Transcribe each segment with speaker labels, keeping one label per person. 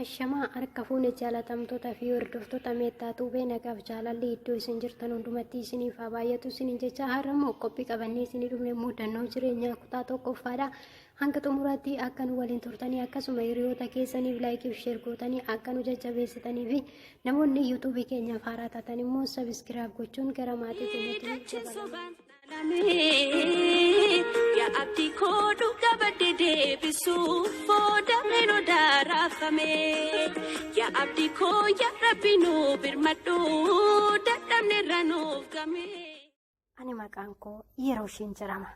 Speaker 1: Ashamaa harka fuune jaalatamtoota fi hordoftoota meettaa tuubee nagaaf jaalalli iddoo isin jirtan hundumatti isiniif haa baay'atu isiniin jecha har'a immoo qophii qabannee isinii dhufne mudannoo jireenyaa kutaa tokkoffaadha. Hanga xumuraatti akka nu waliin turtanii akkasuma hiriyoota keessaniif laayikii fi sheer gootanii akka nu jajjabeessitanii fi namoonni yuutuubii keenyaaf haaraa taatan immoo sabiskiraab gochuun gara maatii keenyatti dabalaa.
Speaker 2: Yaa abdii koo dhuga badde deebisuuf booda meenoo daaraafame. Yaa abdii koo yaa rabbi nu birmadhu dadhabne irra nuuf game. Ani
Speaker 1: maqaan koo yeroo ishiin jedhama.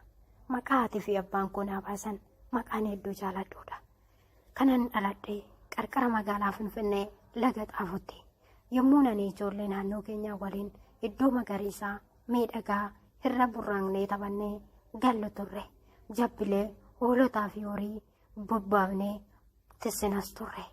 Speaker 1: Maqaa haati fi abbaan koo naa baasan maqaan hedduu jaaladhuudha. Kanan dhaladhee qarqara magaalaa Finfinnee laga xaafutti. Yommuu ani ijoollee naannoo keenyaa waliin iddoo magariisaa miidhagaa irra burraaqnee taphannee gallu turre. Jabbilee, hoolotaa fi horii bobbaafnee tissinas turre.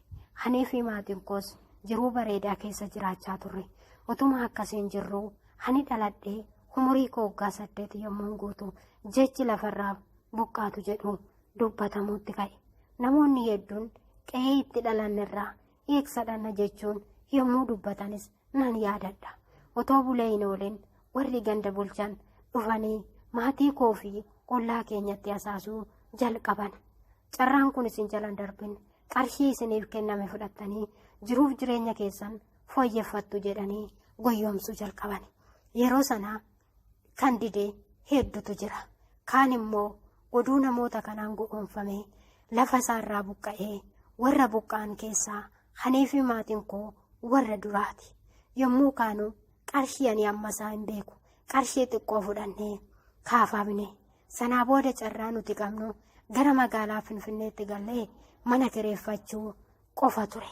Speaker 1: Anii fi maatiin koos jiruu bareedaa keessa jiraachaa turre. Utuma akkasiin jirruu ani dhaladhee umurii koo waggaa saddeet yommuun guutu jechi lafarraa buqqaatu jedhu dubbatamuutti ka'e. Namoonni hedduun qe'ee itti dhalannerraa eegsadhanna jechuun yommuu dubbatanis nan yaadadha. Otoo bulee hin oolin warri ganda bulchan dhufanii maatii koo fi ollaa keenyatti hasaasuu jalqaban. Carraan kun isin jalan darbin qarshii isiniif kenname fudhattanii jiruuf jireenya keessan fooyyeffattu jedhanii goyyomsuu jalqaban. Yeroo sana kan dide heddutu jira. Kaan immoo oduu namoota kanaan go'oomfamee lafa isaarraa buqqa'ee warra buqqa'an keessaa anii fi maatiin koo warra duraati. Yommuu kaanu qarshii ani amma isaa hin beeku qarshii xiqqoo fudhannee kaafamne. Sanaa booda carraa nuti qabnu gara magaalaa Finfinneetti gallee mana kireeffachuu qofa ture.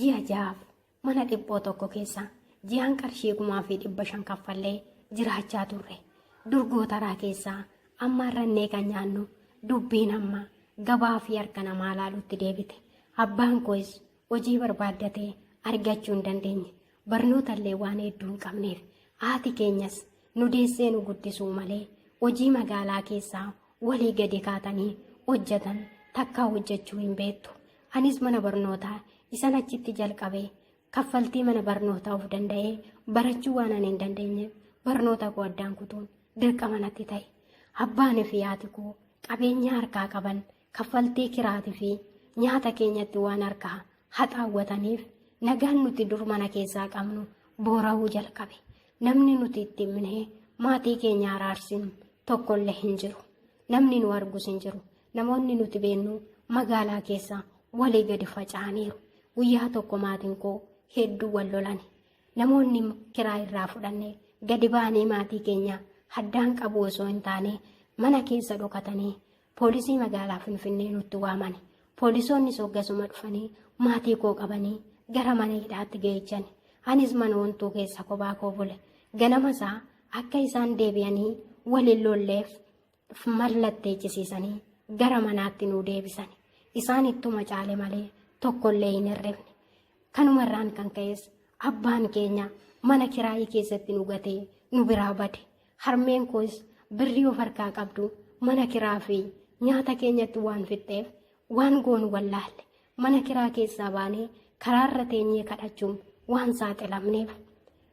Speaker 1: Ji'a ja'aaf mana dhiphoo tokko keessa ji'aan qarshii kumaa fi dhibba shan kaffallee jiraachaa turre. Durgootaraa keessaa amma irrannee kan nyaannu dubbiin amma gabaa fi harka namaa laalutti deebite. Abbaan koos hojii barbaaddatee argachuu hin dandeenye. barnootallee waan hedduu hin qabneef haati keenyas nu deessee nu guddisuu malee hojii magaalaa keessaa walii gadi kaatanii hojjetan takkaa hojjechuu hin beektu anis mana barnootaa isan achitti jalqabe kaffaltii mana barnootaa of danda'ee barachuu waan ani hin dandeenyeef barnoota koo addaan kutuun dirqama natti ta'e abbaan fi haati koo qabeenya harkaa qaban kaffaltii kiraatii fi nyaata keenyatti waan harkaa haxaawwataniif nagaan nuti dur mana keessaa qabnu boora'uu jalqabe namni nuti itti himnee maatii keenya araarsinu tokkollee hin jiru namni nu argus hin jiru namoonni nuti beennu magaalaa keessa walii gadi faca'aniiru guyyaa tokko maatiin koo hedduu wal lolani namoonni kiraa irraa fudhanne gadi baanee maatii keenya haddaan qabu osoo hin taane mana keessa dhokatanii poolisii magaalaa Finfinnee nutti waamani. Poolisoonni soggasuma dhufanii maatii koo qabanii gara mana hidhaatti geechani. Anis mana wantuu keessa kophaa koo bule. Ganama isaa akka isaan deebi'anii waliin lolleef mallatteechisiisanii gara manaatti nu deebisani. Isaan ittuma caale malee tokkollee hin hirrifne. Kanumarraan kan ka'es abbaan keenya mana kiraayii keessatti nu gatee nu biraa bade. Harmeen koos birrii of harkaa qabdu mana kiraa fi nyaata keenyatti waan fixxeef waan goonu wallaalle mana kiraa keessaa baanee karaarra teenyee kadhachuun waan saaxilamneef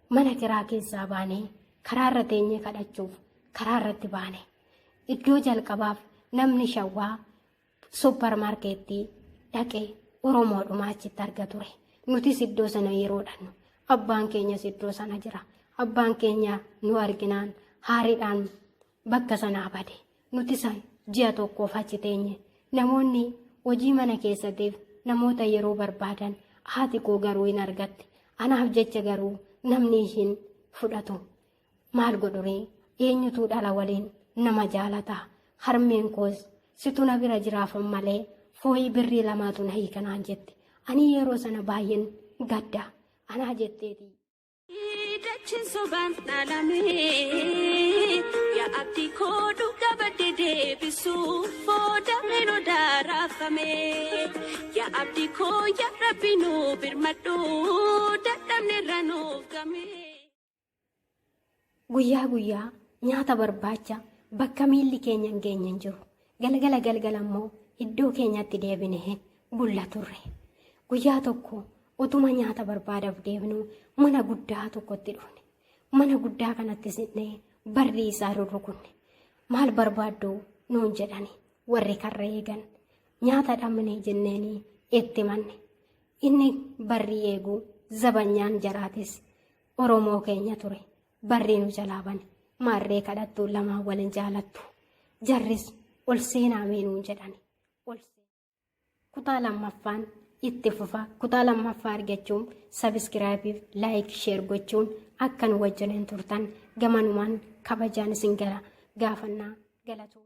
Speaker 1: mana kiraa keessaa baanee karaarra teenyee kadhachuuf karaarratti baane. Iddoo jalqabaaf namni shawwaa Supparmaarkeettii dhaqee Oromoodhuma achitti arga ture. Nutis iddoo sana yeroo dhannu abbaan keenyas iddoo sana jira. Abbaan keenya nu arginaan haariidhaan bakka sanaa bade. Nuti san ji'a tokkoof achi teenye. Namoonni hojii mana keessatiif namoota yeroo barbaadan haati koo garuu hin argatte. Anaaf jecha garuu namni ishiin fudhatu Maal godhuree eenyutuu dhala waliin nama jaalata harmeen koos situ na bira jiraafan malee fooyii birrii lamaatu na hiika naan jette ani yeroo sana baay'een gadda anaa jetteeti.
Speaker 2: Dachin soban dhalame ya abdi ko dhuga badde deebisu booda mero daarafame ya abdi ko ya rabbi nu birmadhu dadhabne irra nuuf game.
Speaker 1: Guyyaa guyyaa nyaata barbaacha bakka miilli keenya hin geenye hin jiru. Galgala galgala immoo iddoo keenyatti deebinee bulla turre. Guyyaa tokko utuma nyaata barbaadaaf deebinu mana guddaa tokkotti dhufne. Mana guddaa kanatti siqnee barrii isaa rurrukunne. Maal barbaaddu nuun jedhani warri karra eegan. Nyaata dhabne jenneenii itti manne. Inni barri eegu zabanyaan jaraatis Oromoo keenya ture. Barri nu jalaa bane. Maarree kadhattu lamaan waliin jaalattu. Jarris ol seenaa meenuun jedhani. Ol Kutaa lammaffaan itti fufa. Kutaa lammaffaa argachuun sabiskiraayibiif laayik sheer gochuun akka nu wajjiniin turtan gamanumaan kabajaan isin gara gaafannaa galatooma.